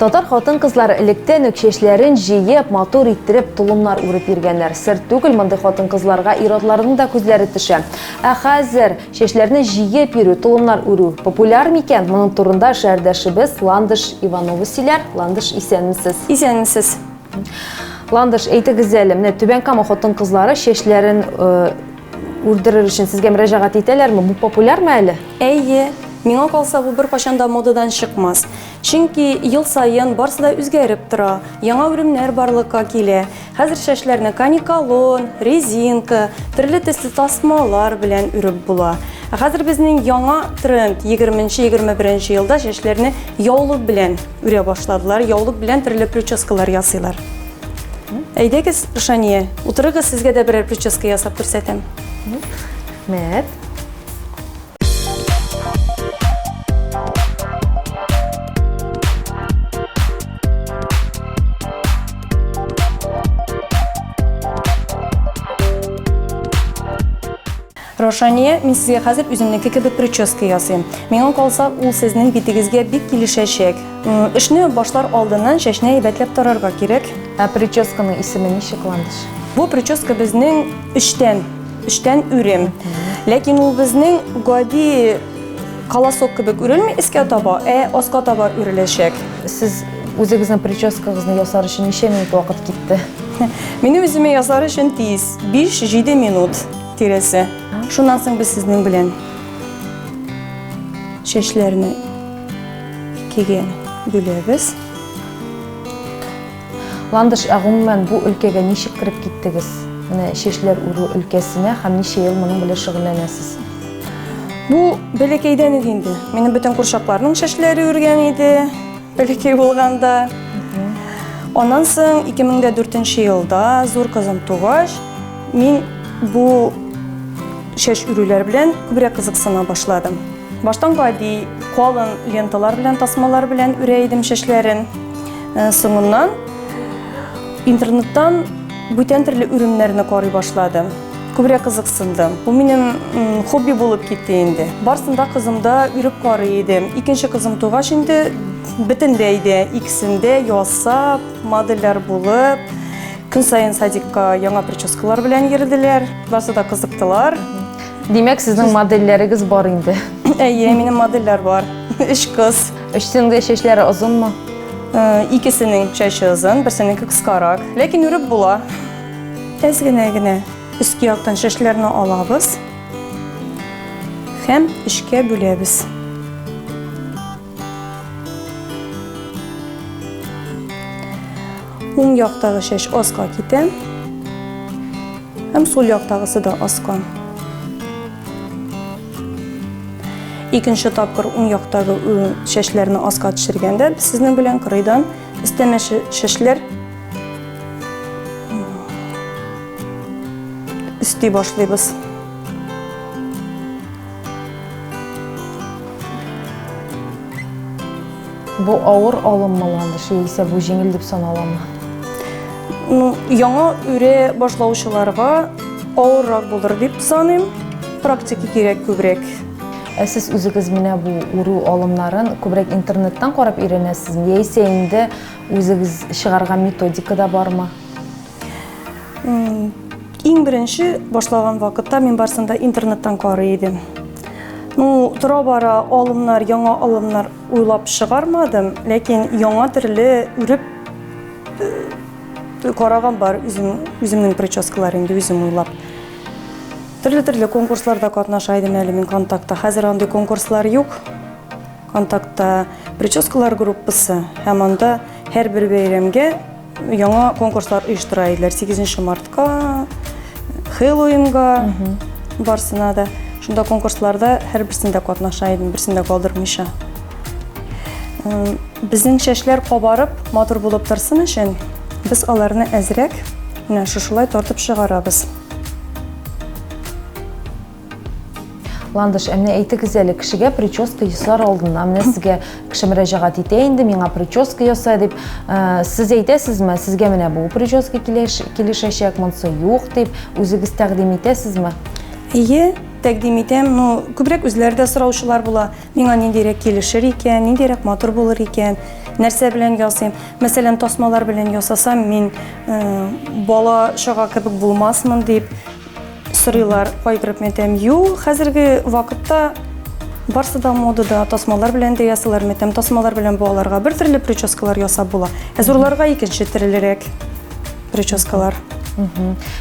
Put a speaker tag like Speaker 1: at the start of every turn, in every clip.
Speaker 1: Татар хатын-кызлар электән үк чәчләрен җыеп, матур иттереп, тулымнар үреп йөргәннәр. Сер түгел, мондый хатын-кызларга ир-атларның да күзләре төшә. Ә хәзер чәчләрне җыеп йөрү, тулымнар үрү популяр микән? Моның турында шәһәрдәшебез Ландыш Иванова сөйләр. Ландыш, исәнмесез. Исәнмесез. Ландыш, әйтегез әле, менә Түбән Кама хатын-кызлары чәчләрен э, Үлдерер өчен сезгә мөрәҗәгать итәләрме? Бу популярмы әле? Әйе, миңа
Speaker 2: калса, бу беркайчан да модадан чыкмас. Чөнки ел саен барсы да үзгәреп тора, яңа үлемнәр барлыкка килә. Хәзер чәчләрне каникалон, резинка, төрле төсле тасмалар белән үреп була. Ә хәзер безнең яңа тренд 20-21 елда чәчләрне яулык белән үрә башладылар, яулык белән төрле прическалар ясыйлар. Әйдәгез, Шания, утырыгыз, сезгә дә берәр прическа ясап күрсәтәм.
Speaker 1: Мәт.
Speaker 2: Раушания, мин сезгә хәзер үземнеке кебек прическа ясыйм. Миңа калса, ул сезнең битегезгә бик килешәчәк. Эшне башлар алдыннан чәчне әйбәтләп тарарга кирәк. Ә прическаның
Speaker 1: исеме ничек, Ландыш? Бу прическа
Speaker 2: безнең өчтән, өчтән үрем. Ләкин ул безнең гади колосок кебек үрелми искә таба, ә аска таба үреләчәк. Сез
Speaker 1: үзегезнең прическагызны ясар өчен ничә минут вакыт китте? Минем үземә
Speaker 2: ясар өчен тиз, 5-7 минут. тиресе. Шуннан соң без сезнең белән чәчләрне икегә бүләбез.
Speaker 1: Ландыш, ә гомумән бу өлкәгә ничек кереп киттегез? Менә чәчләр үрү өлкәсенә һәм ничә ел моның белән шөгыльләнәсез?
Speaker 2: Бу бәләкәйдән үк инде. Минем бөтен курчакларның чәчләре үргән иде. Бәләкәй булганда. Аннан соң 2004 елда зур кызым тугач, мин бу шәш үрүләр белән күбрәк кызыксына башладым. Баштан гади калын ленталар белән, тасмалар белән үрә идем шәшләрен. Э, соңыннан интернеттан бүтән төрле үрүмнәрне карый башладым. Күбрәк кызыксындым. Бу минем хобби булып китте инде. Барсында кызымда үреп карый идем. Икенче кызым тугач инде бөтенләй дә икесендә ясап, модельләр булып, көн саен садикка яңа прическалар белән йөрделәр. Барсы да кызыктылар. Димәк,
Speaker 1: сезнең модельләрегез бар инде. Әйе, минем
Speaker 2: модельләр бар. Өч кыз. Өчсенең дә чәчләре
Speaker 1: озынмы? Икесенең
Speaker 2: чәче озын, берсенеке кыскарак. Ләкин үреп була. Әз генә генә өске яктан шәшләрне алабыз һәм өчкә бүләбез. Уң яктагы шәш аска китә һәм сул яктагысы да аска. Икенче тапкыр уң яктагы шәшләрне аска төшергәндә, без сезнең белән кырыйдан Өстәмә шешләр өсти башлыйбыз.
Speaker 1: Бу авыр алыммы ландыш, яисә бу җиңел дип саналамы? Ну, яңа
Speaker 2: үрә башлаучыларга авыррак булыр дип саныйм. Практика кирәк күбрәк. Ә сез
Speaker 1: үзегез менә бу үрү алымнарын күбрәк интернеттан карап өйрәнәсезме? Яисә инде үзегез чыгарган методика да бармы?
Speaker 2: Иң беренче башлаган вакытта мин барсын да интернеттан карый идем. Ну, тора бара алымнар, яңа алымнар уйлап чыгармадым, ләкин яңа төрле үреп э, караган бар үзем, үземнең прическалар инде үзем уйлап. Төрле-төрле конкурсларда катнаша идем әле мин контактта. Хәзер андый конкурслар юк. Контактта прическалар группасы һәм анда һәрбер бәйрәмгә яңа конкурслар оештыра иделәр. 8 мартка, Хэллоуинга, барсына да. Шунда конкурсларда һәрберсендә катнаша идем, берсендә калдырмыйча. Безнең чәчләр кабарып, матур булып торсын өчен, без аларны әзрәк Менә шушылай тартып чыгарабыз.
Speaker 1: Ландыш, ә менә әйтегез әле, кешегә прическа ясар алдына, менә сезгә кеше мөрәҗәгать итә инде, миңа прическа яса дип, ә, сез әйтәсезме, сезгә менә бу прическа килеш, килешәчәк, монысы юк дип, үзегез тәкъдим итәсезме? Әйе,
Speaker 2: тәкъдим итәм, но күбрәк үзләре дә сораучылар була. Миңа ниндирәк килешер икән, ниндирәк матур булыр икән, нәрсә белән ясыйм. Мәсәлән, тасмалар белән ясасам, мин бала чага кебек булмасмын дип сорыйлар кайгырып мәтәм. Ю, хәзерге вакытта барсы да модада, тасмалар белән дә ясалар, мәтәм тасмалар белән балаларга бер төрле прическалар ясап була. Ә зурларга икенче төрлерәк прическалар.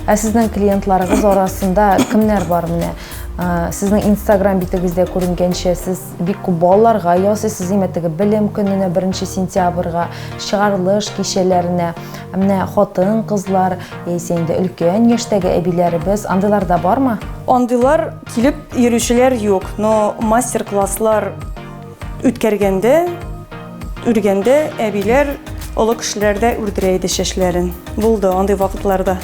Speaker 1: Ә сезнең клиентларыгыз арасында кемнәр бар менә? Сезнең инстаграм битегездә күренгәнчә, сез бик күп балаларга ясый, сез имәтеге белем көненә 1 сентябрьга, чыгарылыш кичәләренә, менә хатын, кызлар, яисә инде өлкән яшьтәге әбиләребез, андыйлар да бармы? Андыйлар
Speaker 2: килеп йөрүчеләр юк, но мастер-класслар үткәргәндә, үргәндә әбиләр, олы кешеләр дә үрдерә иде чәчләрен. Булды андый вакытларда.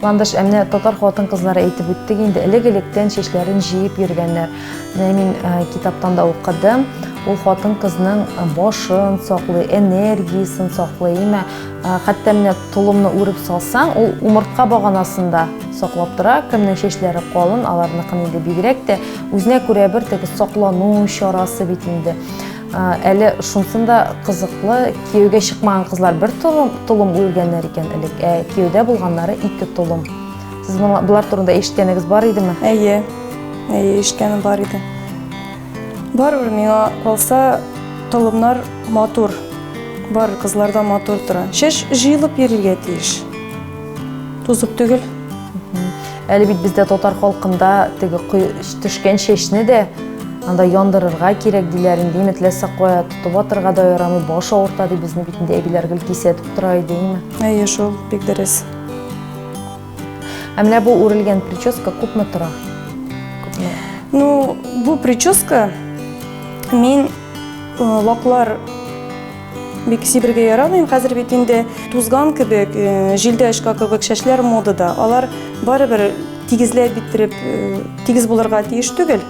Speaker 1: Ландыш, ә менә татар хатын-кызлары әйтеп үттек инде, элек-электән чәчләрен җыеп йөргәннәр. Менә мин э, китаптан да укыдым. Ул хатын-кызның э, башын саклый, энергиясен саклый. Имә, э, хәтта менә толымны үреп салсаң, ул умыртка баганасында саклап тора. Кемнең чәчләре калын, аларныкын инде бигрәк тә үзенә күрә бер теге саклану чарасы бит инде. Әле шунсын да кызыклы, кияүгә чыкмаган кызлар бер толым, толым үлгәннәр икән элек, ә кияүдә булганнары ике толым. Сез болар турында ишеткәнегез бар идеме? Әйе,
Speaker 2: әйе, ишеткәнем бар иде. Барыбер миңа калса, толымнар матур, бар кызларда матур тора. Шеш җыелып йөрергә тиеш. Тузып түгел.
Speaker 1: Әле бит бездә татар халкында теге төшкән чәчне дә анда яндырырга кирәк диләр инде имет ләссә кая тотып атырга да ярамый баш авырта ди безнең бит инде әбиләр гел кисәтеп тора иде име әйе шул бик
Speaker 2: дөрес
Speaker 1: ә менә бу үрелгән прическа күпме тора күпме ну
Speaker 2: бу прическа мин э, ваклар Бик сибергә ярамыйм, хәзер бит инде тузган кебек, э, җилдә очка кебек чәчләр модада. Алар барыбер тигезләп биттереп, э, тигез булырга тиеш түгел.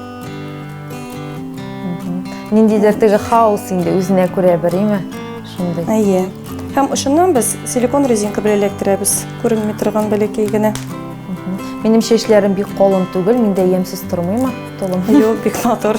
Speaker 1: Ниндидер теге хаос инде үзенә күрә бер, име? Шундый. Әйе.
Speaker 2: Һәм ошыннан без силикон резинка белән эләктерәбез, күренми торган бәләкәй генә. Минем
Speaker 1: чәчләрем бик калын түгел, миндә ямьсез тормыймы? Толым. Юк, бик матур.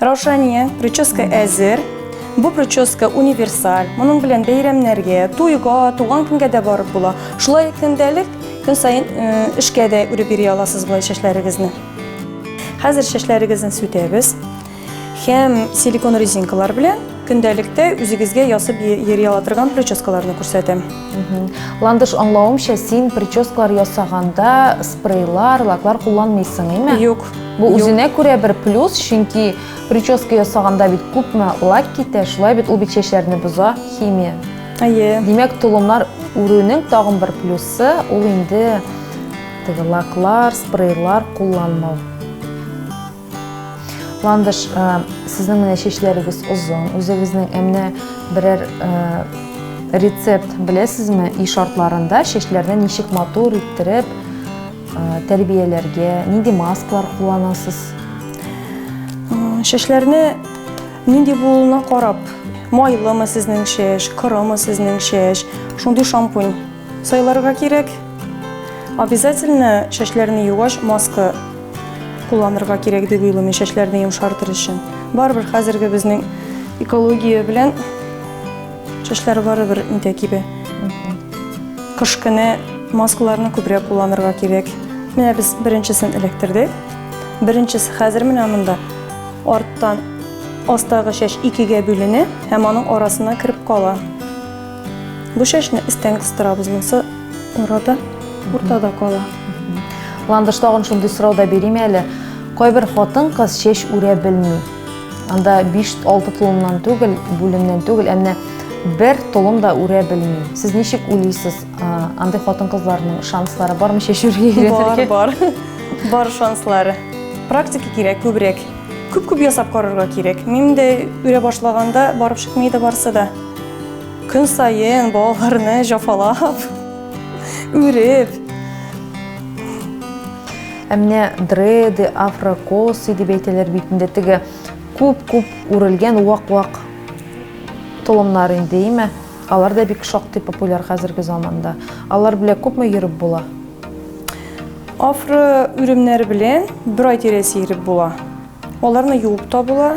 Speaker 2: Раушания, прическа әзер. Бу прическа универсаль. Моның белән бәйрәмнәргә, туйга, туган көнгә дә барып була. Шулай көндәлек, көн саен э, эшкә дә үреп йөри аласыз болай чәчләрегезне. Хәзер чәчләрегезне сүтәбез һәм силикон резинкалар белән Көндәлектә үзегезгә ясып йөри ала торган прическаларны күрсәтәм. Ландыш
Speaker 1: аңлавымча, син прическалар ясаганда спрейлар, лаклар кулланмыйсың, име? Юк. Бу үзенә
Speaker 2: күрә
Speaker 1: бер плюс, чөнки прическа ясаганда бит күпме лак китә, шулай бит ул бит чәчләрне боза, химия. Әйе. Димәк,
Speaker 2: толымнар
Speaker 1: үрүнең тагын бер плюсы ул инде теге лаклар, спрейлар кулланмау. Ландыш, сезнең менә чәчләрегез озын, үзегезнең әмнә берәр рецепт беләсезме и шартларында чәчләрне ничек матур иттереп тәрбияләргә, нинди маскалар кулланасыз?
Speaker 2: Чәчләрне нинди булуына карап, майлымы сезнең чәч, корымы сезнең чәч, шундый шампунь Сайларга кирәк. Обязательно чәчләрне югач маска кулланырга кирәк дип уйлыйм, чәчләрне йомшартыр өчен. Барыбер хәзерге безнең экология белән чәчләр барыбер интә кибә. Кыш көне маскаларны күбрәк кулланырга кирәк. Менә без беренчесен эләктердек. Беренчесе хәзер менә монда арттан астагы чәч икегә бүленә һәм аның арасына кереп кала. Бу чәчне өстән кыстырабыз, монысы арада, уртада кала. Ландыш
Speaker 1: тагын шундый сорау да бериме әле? Кайбер хатын кыз чәч үрә белми. Анда 5-6 тулымнан түгел, бүлемнән түгел, әмма бер толым да үрә белми. Сез ничек уйлыйсыз, андый хатын кызларның шанслары бармы чәч үргә? Бар, бар.
Speaker 2: Бар шанслары. Практика кирәк күбрәк. Күп-күп ясап карарга кирәк. Мин дә үрә башлаганда барып чыкмый да барса да. Көн саен балаларны җафалап, үреп.
Speaker 1: Ә менә дреды, афрокосы дип әйтәләр бит инде теге күп-күп үрелгән вак-вак толымнар инде, име? Алар да бик шактый популяр хәзерге заманда. Алар белән күпме йөреп була? Афро
Speaker 2: үремнәре белән бер ай тирәсе йөреп була. Аларны юып та була,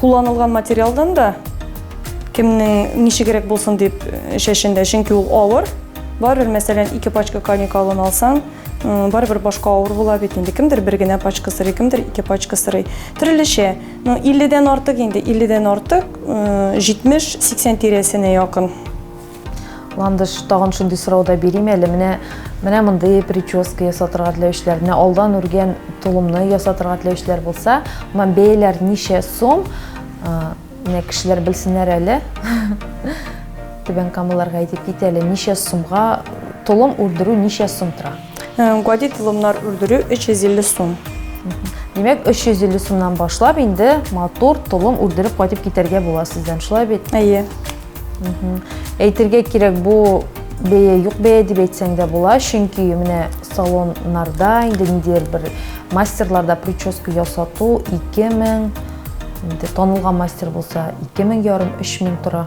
Speaker 2: Кулланылган материалдан да кемнең ничегрәк булсын дип чәчендә, чөнки ул авыр. Барыбер, мәсәлән, ике пачка коника алын алсаң, барыбер башка авыр була бит инде. Кемдер бер генә пачка сырый, кемдер ике пачка сырый. Төрлечә. Ну, 50-дән артык инде, 50-дән артык, 70-80 тирәсенә якын.
Speaker 1: Ландыш тагын шундый сорау да бирим әле. Менә менә мондый прическа ясатырга теләүчеләр, менә алдан үргән тулымны ясатырга теләүчеләр булса, моңа бәяләр ничә сум? Менә кешеләр белсеннәр әле. Түбән Камаларга әйтеп кит әле, ничә сумга тулым үрдерү ничә сум тора? Гади тулымнар
Speaker 2: үрдерү 350 сум. Димәк,
Speaker 1: 350 сумнан башлап инде матур тулым үрдереп кайтып китәргә була сездән, шулай бит? Әйе. Әйтергә кирәк, бу бәя юк бәя дип әйтсәң дә була, чөнки менә салоннарда инде ниндидер бер мастерларда прическа ясату 2000 инде танылган мастер булса 2000 ярым 3000 тора.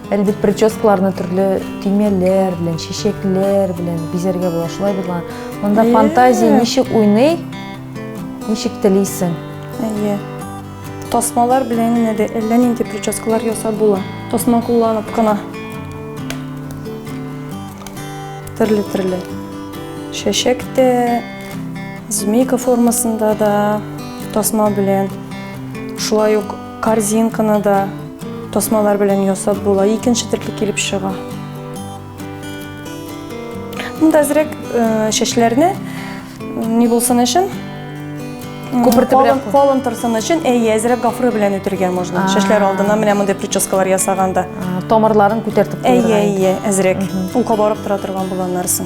Speaker 1: Әле бит прическаларны төрле төймәләр белән, чәчәкләр белән бизәргә була, шулай бит ла. Монда фантазия ничек уйный, ничек телисең. Әйе.
Speaker 2: Тасмалар белән генә дә әллә нинди прическалар ясап була. Тасма кулланып кына. Төрле-төрле. Шәшәк тә, змейка формасында да тасма белән. Шулай ук корзинканы да тасмалар белән ясап була. Икенче төрле килеп чыга. Монда әзрәк э, чәчләрне Ни булсын өчен? Күпертеп Калын, белән- калын торсын өчен, әйе, әзрәк гафура белән үтергә можно. А. Шәшләр алдына менә мондый прическалар ясаганда. А, Тамырларын
Speaker 1: күтәртеп Әйе, куярга. әйе, әзрәк.
Speaker 2: Ул кабарып тора торган була аннарсын.